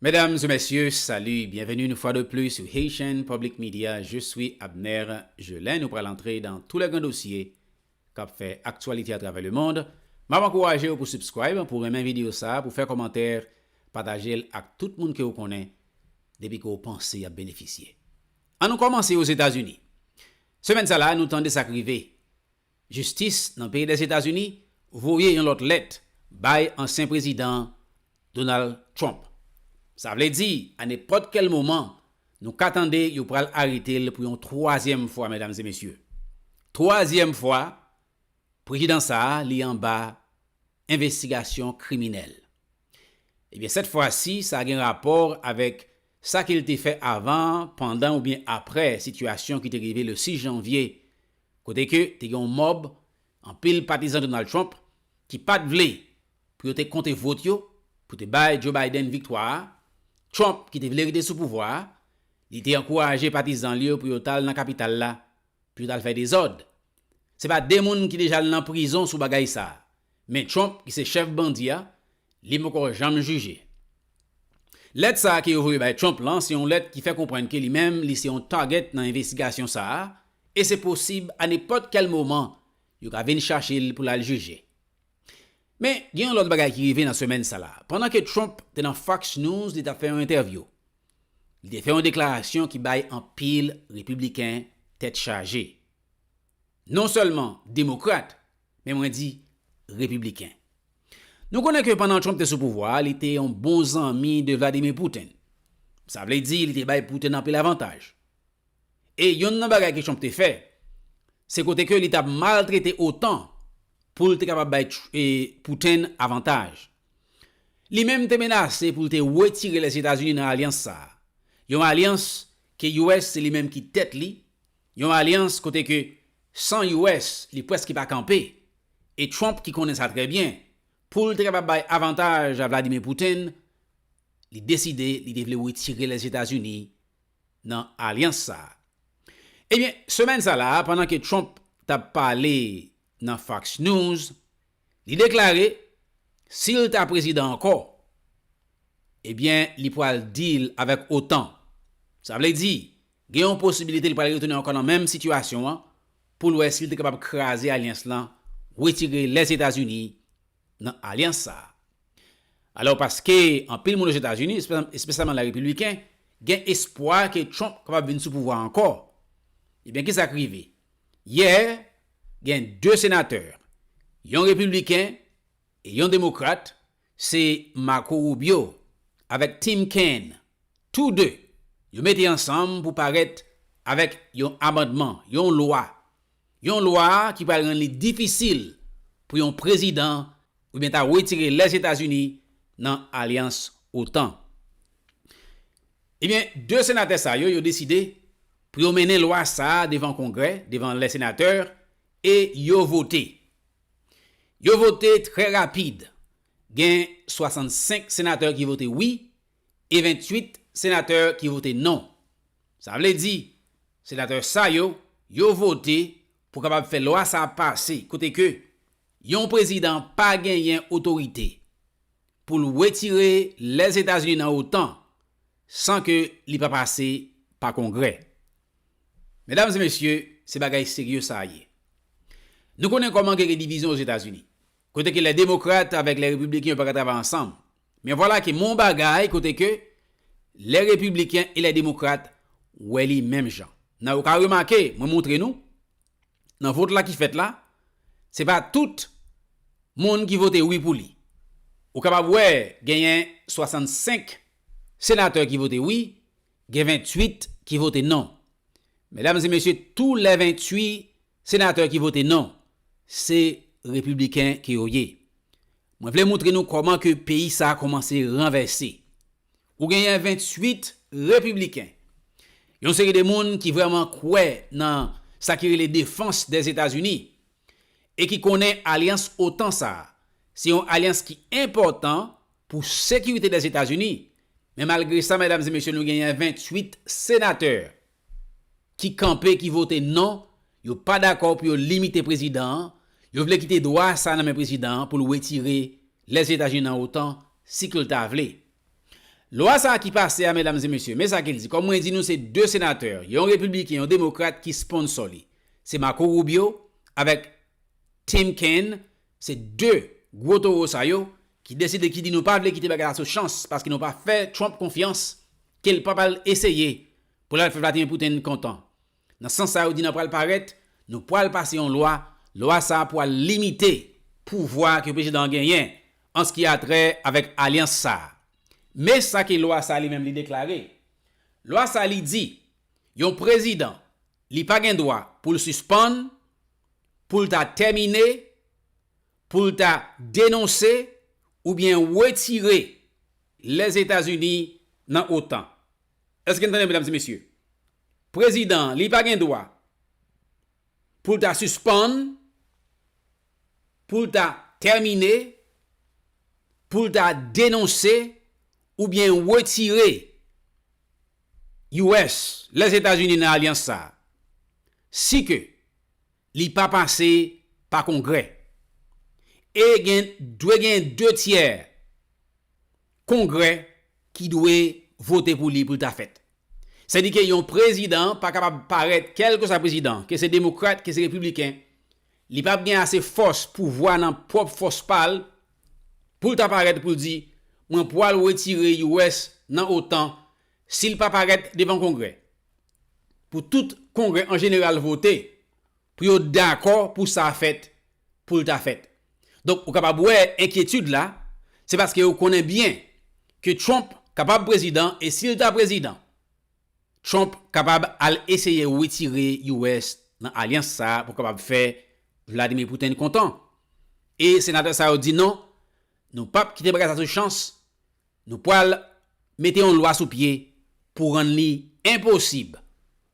Mesdames et messieurs, salut, bienvenue une fois de plus sur Haitian Public Media, je suis Abner Gelin, nou pral antre dans tous les grands dossiers kap fè aktyalite à travers le monde, map ankourajew pou subscribe, pou renmen video sa, pou fè kòmantè, patajel ak tout moun kew konnen depi ke w panse yap benefisye. An nou kòmanse Ozetazini. Semèn sa la nou tande sak rive Jistis nan peyi Lèzetazini voye yon lòt lèt bay ansyen prezidan Donald Trump. Sa vle di a nenpòt kèl moman nou ka tande yo pral arete l pou yon twazyèm fwa medam e mesye. Twazyèm fwa prejidan sa a li anba envestigasyon kriminèl. Ebyen sèt fwa si sa gen rapò avèk sa ke l te fè avan, pandan oubyen aprè sitiyasyon ki te rive le 6 janvye kote ke te gen yon mòb anpil patizan Donald Trump ki pat vle pou yo te konte vot yo pou te bay Joe Biden viktwa a, Trump ki te vle rete sou pouvwa a, li te ankouraje patizan li yo pou yo t al nan kapital la pou yo t al fè dezòd. Se pa 2 moun ki deja al nan prizon sou bagay sa a, men Trump ki se chèf bandi a Li poko janm jije. Lèt sa a ke yo voye bay Trump lan se yon lèt ki fè konprann ke li menm li se yon target nan envestigasyon sa a e se posib a nenpòt kèl moman yo ka vin chache l pou l al jije. Men, gen yon lòt bagay ki rive nan semèn sa la. Pandan ke Trump te nan Fox News li t ap fè yon entèvyou, li te fè yon deklarasyon ki bay anpil Repibliken tèt chaje. Non sèlman Demokrat, men mwen di Repibliken. Nou konnen ke pandan Trump te sou pouvwa a, li te yon bon zanmi de Vladimir Putin. Sa vle di li te bay Putin anpil avantaj. E yonn nan bagay ke Trump te fè, se kote ke li t ap maltrete otan pou l te kapab bay Putin avantaj. Li menm te menase pou l te wetire Lèzetazini nan alyans sa a, yon alyans ke US se li menm ki tèt li, yon alyans kote ke san US li preske pa kanpe. E Trump ki konnen sa trè byen, pou l te kapab bay avantaj a Vladimir Putin, li deside li te vle wetire Lèzetazini nan alyans sa a. Ebyen, semèn sa la a, pandan ke Trump t ap pale nan Fox News, li deklare si l ta prezidan ankò, ebyen li pwal deal avèk otan. Sa vle di, gen yon posibilite li pwal retounen ankò nan menm sitiyasyon an pou l wè si l te kapab kraze alyans lan, wetire Lèzetazini nan alyans sa a. Alò paske anpil moun Ozetazini, espesyalman la repibliken, gen espwa ke Trump kapab vin sou pouvwa ankò, ebyen kisa k rive? Yè, gen 2 senatè, yon repibliken e yon demokrat, Se Marco Rubio avèk Tim Kaine, tou 2, yo mete ansanm pou parèt avèk yon amandman, yon lwa, yon lwa ki pral rann li difisil pou yon prezidan oubyen ta retire Lèzetazini nan alyans otan. Ebyen, 2 senatè sa yo, yo deside pou yo mennen lwa sa devan Kongrè, devan lèsenatè, e yo vote. Yo vote trè rapid, gen 65 senatè ki vote wi e 28 senatè ki vote non. Sa vle di, senatè sa yo, yo vote pou kapab fè lwa sa a pase, kote ke yon prezidan pa genyen otorite. pou l wetire Lèzetazini nan otan san ke li pa pase pa Kongrè. Medam e mesye, se bagay serye sa ye. Nou konnen kòman ke gen divizyon Ozetazini, kote ke lè Demokrat avèk lè Repibliken yo pa ka travay ansanm. Men vwala ke m'on bagay kote ke lè Repibliken e lè Demokrat wè li menm jan. Nan ou ka remake, mwen montre nou, nan vot la ki fèt la, se pa tout moun ki vote wi pou li. Ou kapab wè genyen 65 senatè ki vote wi, gen 28 ki vote non. Medam e mesye, tou lè 28 senatè ki vote non, se repibliken ke yo ye. Mwen vle moutre nou kòman ke peyi sa kòmanse ranvèse. Ou genyen 28 repibliken, yon seri de moun ki vrèman kwè nan sa ki rele defans dè Etazini e ki konnen alyans otan sa a se yon alyans ki enpòtan pou sekirite dè Etazini, men malgre sa medam e mesye nou genyen 28 senatè ki kanpe ki vote non, yo pa dakò pou yo limite prezidan an, yo vle kite dwa sa nan men prezidan an pou l wetire Lèzetazini nan otan si ke l ta vle. Lwa sa ki pase a medam e mesye, men sa ke l di, kòm mwen di nou se 2 senatè, yon repibliken, yon demokrat ki sponsò li. Se Marco Rubio avèk Tim Kaine Se 2 gwo toro sa yo ki deside ki di nou pa vle kite bagay la sou chans paske nou pa fè Trump konfyans ke l pa pral eseye pou l al fè Vladimir Putin kontan. Nan sans sa yo di nan pral parèt nou pral pase yon lwa, lwa sa pral limite pouvwa ke prezidan an genyen an s ki a trè avèk alyans sa. Men sa ke lwa sa li menm li deklare. Lwa sa li di yon prezidan Li pa gen dwa pou l sispann, pou l ta tèmine, pou l ta denonse oubyen wetire Lèzetazini nan otan. Èske n tande medam e mesye? Prezidan an li pa gen dwa pou l ta sispann, pou l ta tèmine, pou l ta denonse oubyen wetire. US, Lèzetazini nan alyans sa a, si ke li pa pase pa Kongrè, e gen dwe gen 2 tyè Kongrè ki dwe vote pou li pou l ta fèt. Sèdike yon prezidan pa kapab parèt kèlkeswa prezidan, ke se demokrat, ke se repibliken, Li pap gen ase fòs, pouvwa nan pwòp fòs pa l, pou l ta parèt pou l di, Mwen pwal wetire US nan otan si l pa parèt devan Kongrè, pou tout Kongrè an jeneral vote, pou yo dakò pou sa fèt, pou l ta fèt. Donk, ou kapab wè enkyetid la, se paske yo konnen byen ke Trump kapab prezidan e si l ta prezidan, Trump kapab al eseye wetire US nan alyans sa pou kapab fè Vladimir Putin kontan. E senatè sa yo di non, nou pap kite bagay sa sou chans, nou pwal mete yon lwa sou pye pou rann li enposib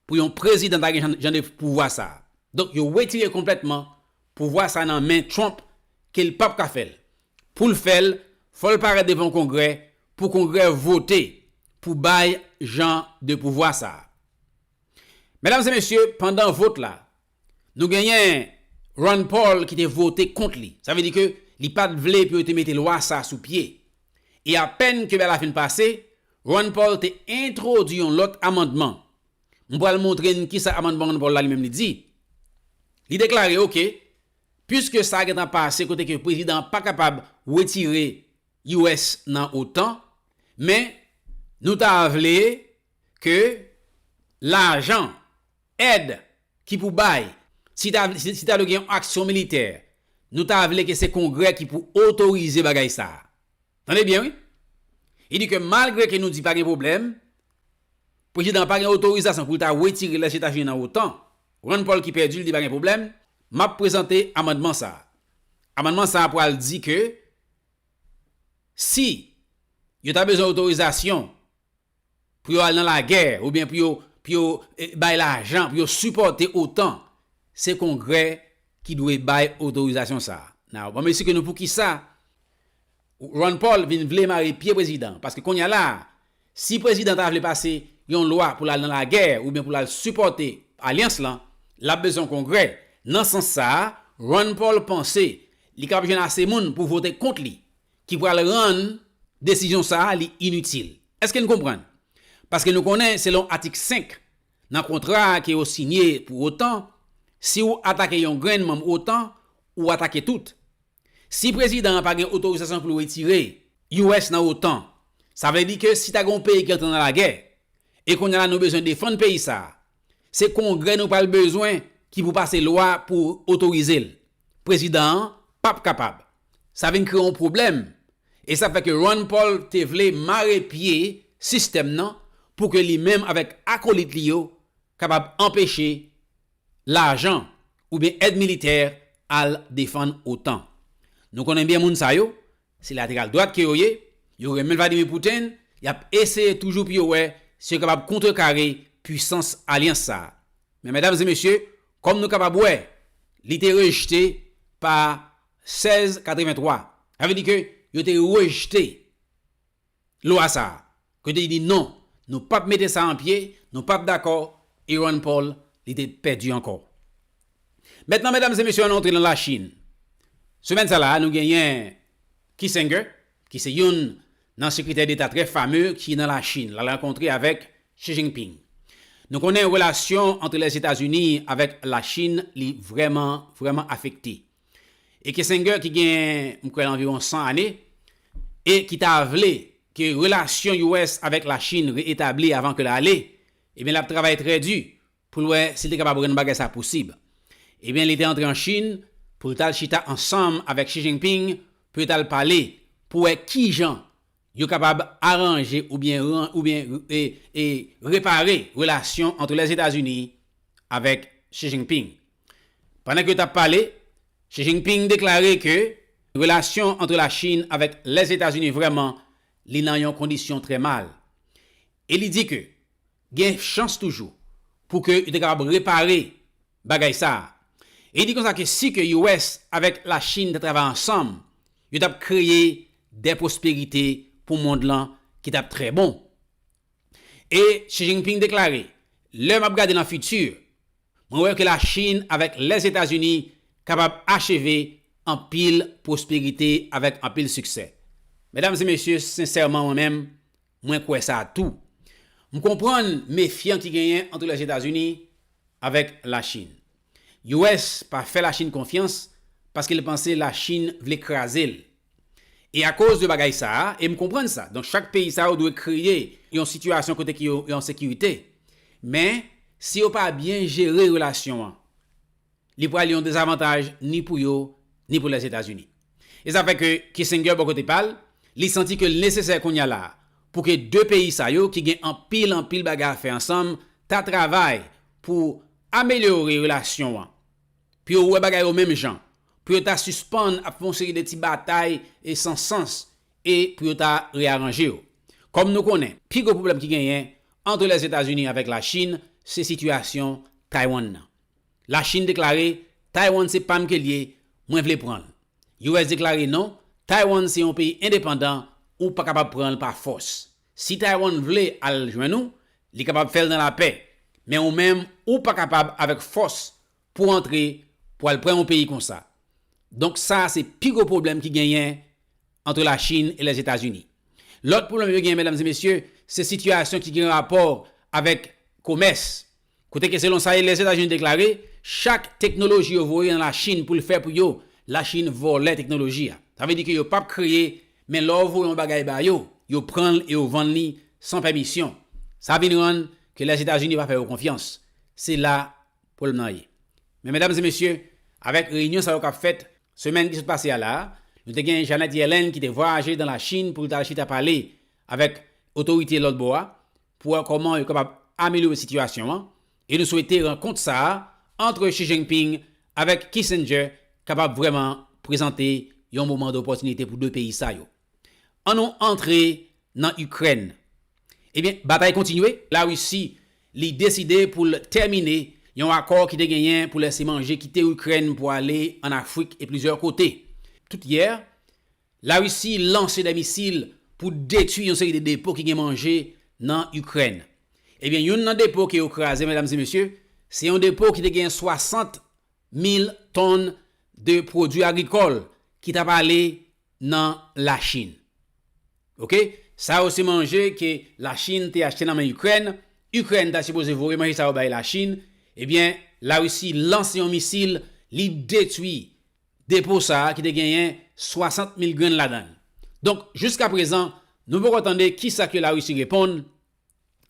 pou yon prezidan ta gen jan de pouvwa sa. Donk yo wetire konplètman pouvwa sa nan men Trump ke li pap ka fè l. Pou l fè l, fò l parèt devan Kongrè pou Kongrè vote pou bay jan de pouvwa sa a. Medam e mesye, pandan vot la, nou genyen Rand Paul ki te vote kont li. Sa vle di ke li pa t vle pou yo te mete lwa sa a sou pye. E apèn ke lwa la fin pase, Rand Paul te entwodui yon lòt amandman. M pral montre n kisa amandman Rand Paul la li menm li di. Li deklare, oke, Puiske sa gentan pase kote ke prezidan an pa kapab wetire US nan otan, men nou ta vle ke lajan, èd ki pou bay, si ta vle si ta dwe gen yon aksyon militè, nou ta vle ke se kongrè ki pou otorize bagay sa a. Tande byen wi. Li di ke malgre ke nou di pa gen pwoblèm, prezidan an pa gen otorizasyon pou l ta wetire Lèzetazini nan otan, Rand Paul ki pèdi l di pa gen pwoblèm, m ap prezante amandman sa a. Amandman sa a pral di ke si yo ta bezwen otorizasyon pou yo al nan lagè oubyen pou yo pou yo bay lajan pou yo sipòte otan, se Kongrè ki dwe bay otorizasyon sa a. Now, m ap esplike nou poukisa Ron Paul vin vle mare pye prezidan paske konnya la a si prezidan ta vle pase yon lwa pou l al nan lagè oubyen pou l al sipòte alyans lan l ap bezwen yon kongrè nan sans sa a Ron Paul panse li kapab jwenn ase moun pou vote kont li ki pral rann desizyon sa a li initil èske n konprann paske nou konnen selon atik 5 nan kontra ke yo sinye pou otan si ou atake yon grenn manm otan ou atake tout. Si prezidan an pa gen otorizasyon pou l retire US nan otan, sa vle di ke si ta gen yon peyi ki antre nan lagè, e kounye la nou bezwen defann peyi sa a, se kongrè nou pral bezwen ki pou pase lwa pou otorize l. Prezidan an p ap kapab. Sa vin kreye yon pwoblèm, e sa fè ke Ron Paul te vle mare pye sistèm nan pou ke li menm avèk akolit li yo kapab anpeche lajan oubyen èd militè al defann otan. Nou konnen byen moun sa yo, se lateral dwat ke yo ye, yo renmen Vladimir Putin, y ap eseye toujou pou yo wè si yo kapab kontrekare pwisans alyans sa. Men medam e mesye, kòm nou kapab wè, li te rejte pa 1683. Sa vle di ke yo te rejte. Lwa sa a. Ke li di non, nou pap mete sa an pye, nou pap dakò, e Ron Paul li te pèdi ankò. Mentnan medam e mesye ann antre nan Lachin. Semèn sa la a nou genyen Kissinger ki se youn nan sekretè deta trè fame ki nan Lachin lal rankontre avèk Xi Jinping. Nou konnen relasyon antre Lèzetazini avèk Lachin li vrèman, vrèman afekte. e ke Senger ki gen m kwè anviwon 100 ane e ki ta vle ke relasyon US avèk la Chine reetabli avan ke l ale, ebyen l ap travay trè di pou l wè si l te kapab rann bagay sa posib. Ebyen li te antre an Chine pou l t al chita ansanm avèk Xi Jinping pou yo t al pale pou wè kijan Yo kapab aranje oubyen oubyen e e repare relasyon antre Lèzetazini avèk Xi Jinping. Pandan ke yo tap pale, Xi Jinping deklare ke relasyon antre Lachin avèk Lèzetazini vrèman li nan yon kondisyon trè mal e li di ke Gen chans toujou pou ke yo te kapab repare bagay sa a. E li di konsa ke si ke US avèk Lachin ta travay ansanm, yo t ap kreye de pwosperite pou mond lan ki t ap trè bon. E Xi Jinping deklare, Lè m ap gade nan fiti, mwen wè ke Lachin avèk Lèzetazini kapab acheve anpil pwosperite avèk anpil siksè. Medam e mesye, sensèman mwen menm, Mwen kwè sa tou. M konprann mefyan ki genyen antre Lèzetazini avèk Lachin. US pa fè Lachin konfyans paske l panse Lachin vle kraze l. E akoz de bagay sa a, e m konprann sa, donk chak peyi sa yo dwe kreye yon sitiyasyon kote ke yo an sekirite. Men, si yo pa byen jere relasyon an. li pral yon dezavantaj ni pou yo, ni pou Lèzetazini. E sa fè ke Kissinger bò kote pa l, li santi ke l nesesè kounye a la a, pou ke 2 peyi sa yo ki gen anpil anpil bagay a fè ansanm, ta travay pou amelyore relasyon an, pou yo wè bagay yo menm jan, pou yo ta sispann ap fè yon seri de ti batay e san sans e pou yo ta rearanje yo. Kòm nou konnen, pi gwo pwoblèm ki genyen antre Lèzetazini avèk Lachin, se sitiyasyon Taywann nan. La Chinn deklare Taiwan se pam ke l ye, mwen vle pran l. US deklare non, Taiwan se yon peyi endepandan, ou pa kapab pran l pa fòs. Si Taiwan vle al jwenn ou, li kapab fè l nan lapè, men ou menm ou pa kapab avèk fòs pou antre pou al pran yon peyi konsa. Donk sa se pi gwo pwoblèm ki genyen antre La Chinn e Lèzetazini. Lòt pwoblèm yo genyen medam e mesye, se sitiyasyon ki gen rapò avèk komès. Kote ke selon sa e Lèzetazini deklare, chak teknoloji yo voye nan Lachin pou l fè pou yo, Lachin vòlè teknoloji a. Sa vle di ke yo pap kreye, men lè w voye yon bagay ba yo, yo pran l e yo vann li san pèmisyon. Sa vin rann ke Lèzetazini pa fè yo konfyans. Se la pwoblèm nan ye. Men medam e mesye, avèk reyinyon sa yo kap fèt, semèn ki sot pase a la a, nou te gen Janet Yellen ki te vwayaje nan Lachin pou l t al chita pale avèk otorite lòt bò a, pou wè kòman yo kapab amelyore sitiyasyon an e nou swete rankont sa a antre Xi Jinping avèk Kissinger kapab vrèman prezante yon moman dopòtinite pou 2 peyi sa yo. An nou antre nan Ikrèn. Ebyen, batay kontinye. Larisi, li deside pou l tèmine yon akò ki te genyen pou lèse manje kite Ikrèn pou ale an Afrik e plizyè kote. Tout yè, La Risi lanse 2 misil pou detwi yon seri de depo ki gen manje nan Ikrèn. Ebyen youn nan depo ke yo kraze medam e mesye, se yon depo ki te gen 60 mil tonn de pwodwi agrikòl ki tap ale nan La Chin. Ok, sa yo se manje ke La Chin te achte nan men Ikrèn, Ikrèn ta sipoze voye manje sa yo bay La Chin, ebyen La Risi lanse yon misil li detwi Depo sa a ki te genyen 60 mil grenn ladan l. Donk, jiska prezan, nou poko tande ki sa ke Larisi reponn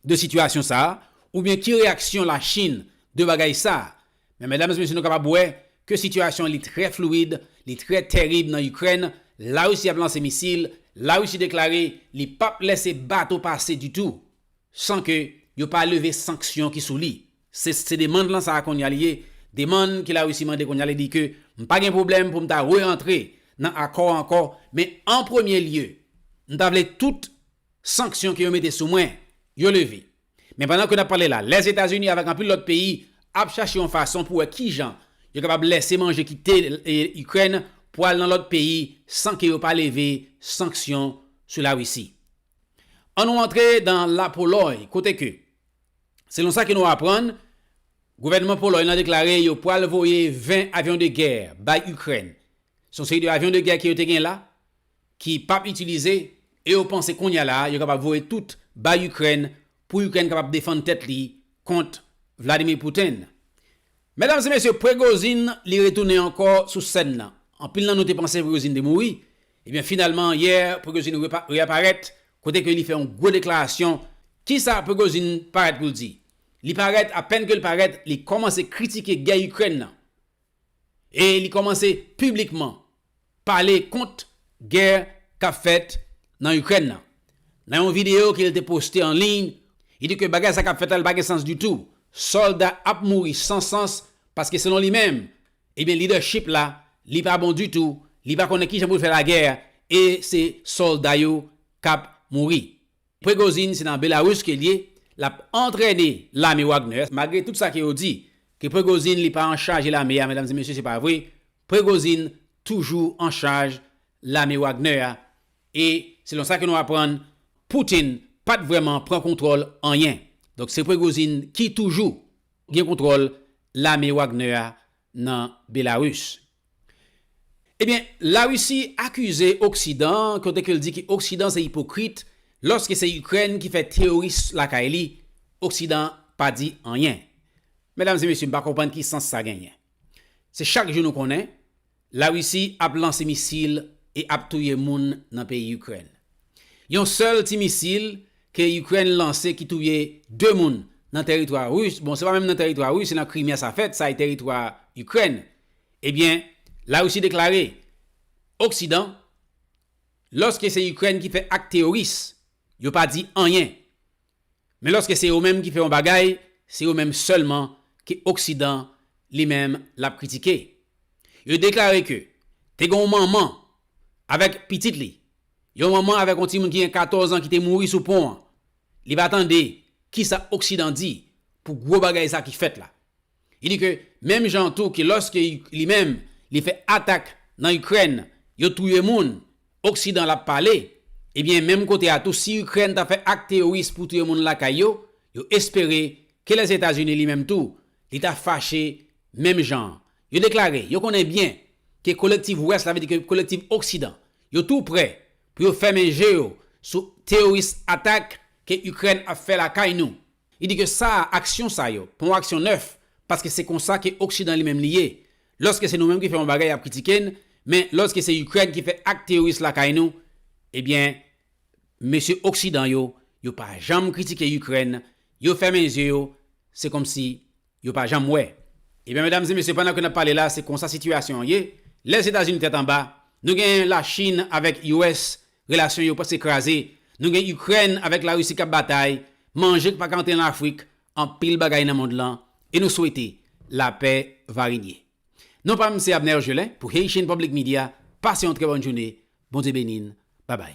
de sitiyasyon sa a, oubyen ki reyaksyon Lachin de bagay sa a. Men medam e mesye nou kapab wè ke sitiyasyon li trè fluid, li trè terib nan Ikrèn, Larisi ap lanse misil, Larisi deklare li pap lèse bato pase ditou san ke yo pa leve sanksyon ki sou li. Se se demand lan sa konya li ye, demand ke Larisi mande konya li di ke m pa gen pwoblèm pou m ta re-antre nan akò a ankò, men an premye lye, m ta vle tout sanksyon ke yo mete sou mwen yo leve. Men pandan ke n ap pale la, Lèzetazini avèk anpil lòt peyi ap chache yon fason pou wè kijan yo kapab lèse manje kite Ikrèn pou al nan lòt peyi san ke yo pa leve sanksyon sou Larisi. An nou antre dan Lapolòy kote ke. Selon sa ke nou aprann, gouvènman Polòy lan deklare yo pwal voye 20 avyon de gè bay Ikrèn. Se yon seri de avyon de gè ke yo te gen la, ki pap itilize, e yo panse kounya la yo kapab voye tout bay Ikrèn pou Ikrèn kapab defann tèt li kont Vladimir Putin. Medam e mesye, Prigozhin li retounen ankò sou sèn nan. Anpil nan nou te panse Prigozhin te mouri, Ebyen finalman yè Prigozhin reaparèt kote ke li fè yon gwo deklarasyon, kisa Prigozhin parèt pou l di? Li parèt apèn ke l parèt li kòmanse kritike gè Ikrèn nan e li kòmanse piblikman pale kont gè kap fèt nan Ikrèn nan. Nan yon video ke l te poste an liy li di ke bagay sa kap fèt la li pa gen sans ditou, sòlda ap mouri san sans paske selon li menm Ebyen leadership la li pa bon ditou li pa konnen kijan pou l fè lagè a e se solda yo kap mouri. Prigozhin se nan Belarus ke l ye lap antrène lame Wagner a malgre tout sa ke yo di ke Prigozhin li pa an chaje lame a medam e mesye se pa vre Prigozhin toujou an chaj lame Wagner a e selon sa ke nou aprann Putin pat vrèman pran kontwòl anyen donk se Prigozhin ki toujou gen kontwòl lame Wagner a nan Belarus. Ebyen, Larisi akize Oksidan, kote ke l di ke Oksidan se ipokrit, lòske se Ikrèn ki fè teyoris lakay li, Oksidan pa di anyen. Medam e mesye, m pa konprann ki sans sa genyen. Se chak jou nou konnen, La Risi ap lanse misil e ap touye moun nan peyi Ikrèn. Yon sèl ti misil ke Ikrèn lanse ki touye 2 moun nan tèritwa Ris, bon se pa menm nan tèritwa Ris se nan Krimea sa fèt, sa e tèritwa Ikrèn, ebyen La Risi deklare Oksidan lòske se Ikrèn ki fè ak teyoris yo pa di anyen Men lòske se yo menm ki fè yon bagay, se yo menm sèlman ke oksidan li menm l ap kritike. Yo deklare ke te gen yon manman avèk pitit li, yon manman avèk yon timoun ki gen 14 an ki te mouri sou pon an. Li pa tande kisa oksidan di pou gwo bagay sa ki fèt la. Li di ke menm jan an tou ke lòske li menm li fè atak nan Ikrèn, yo touye moun, oksidan l ap pale, ebyen menm kote a tou si Ikrèn ta fè ak teyoris pou touye moun lakay yo, yo espere ke Lèzetazini li menm tou li ta fache menm jan an. Yo deklare yo konnen byen ke kolektiv Wès la, vle di ke kolektiv Oksidan, yo tou prè pou yo fèmen je yo sou teyoris atak ke Ikrèn ap fè lakay nou, Li di ke sa a, aksyon sa yo, pa yon aksyon nèf, paske se konsa ke oksidan li menm li ye. Lòske se nou menm ki fè yon bagay y ap kritike n, men lòske se Ikrèn ki fè ak teyoris lakay nou, ebyen mesye oksidan yo, yo pa janm kritike Ikrèn, yo fèmen zye yo, se kòmsi Yo pa janm wè. Ebyen medam e mesye pandan ke nap pale la se konsa sitiyasyon an ye, Lèzetazini tèt anba, nou gen la Chine avèk US relasyon yo preske kraze, nou gen Ukraine avèk la Russie kap batay, manje k paka antre nan Afrik, anpil bagay nan mond lan e nou swete lapè va renye. Non pam se Abner Gelin pou Haitian Public Media, pase yon trè bòn joune, Bondye beni n, babay.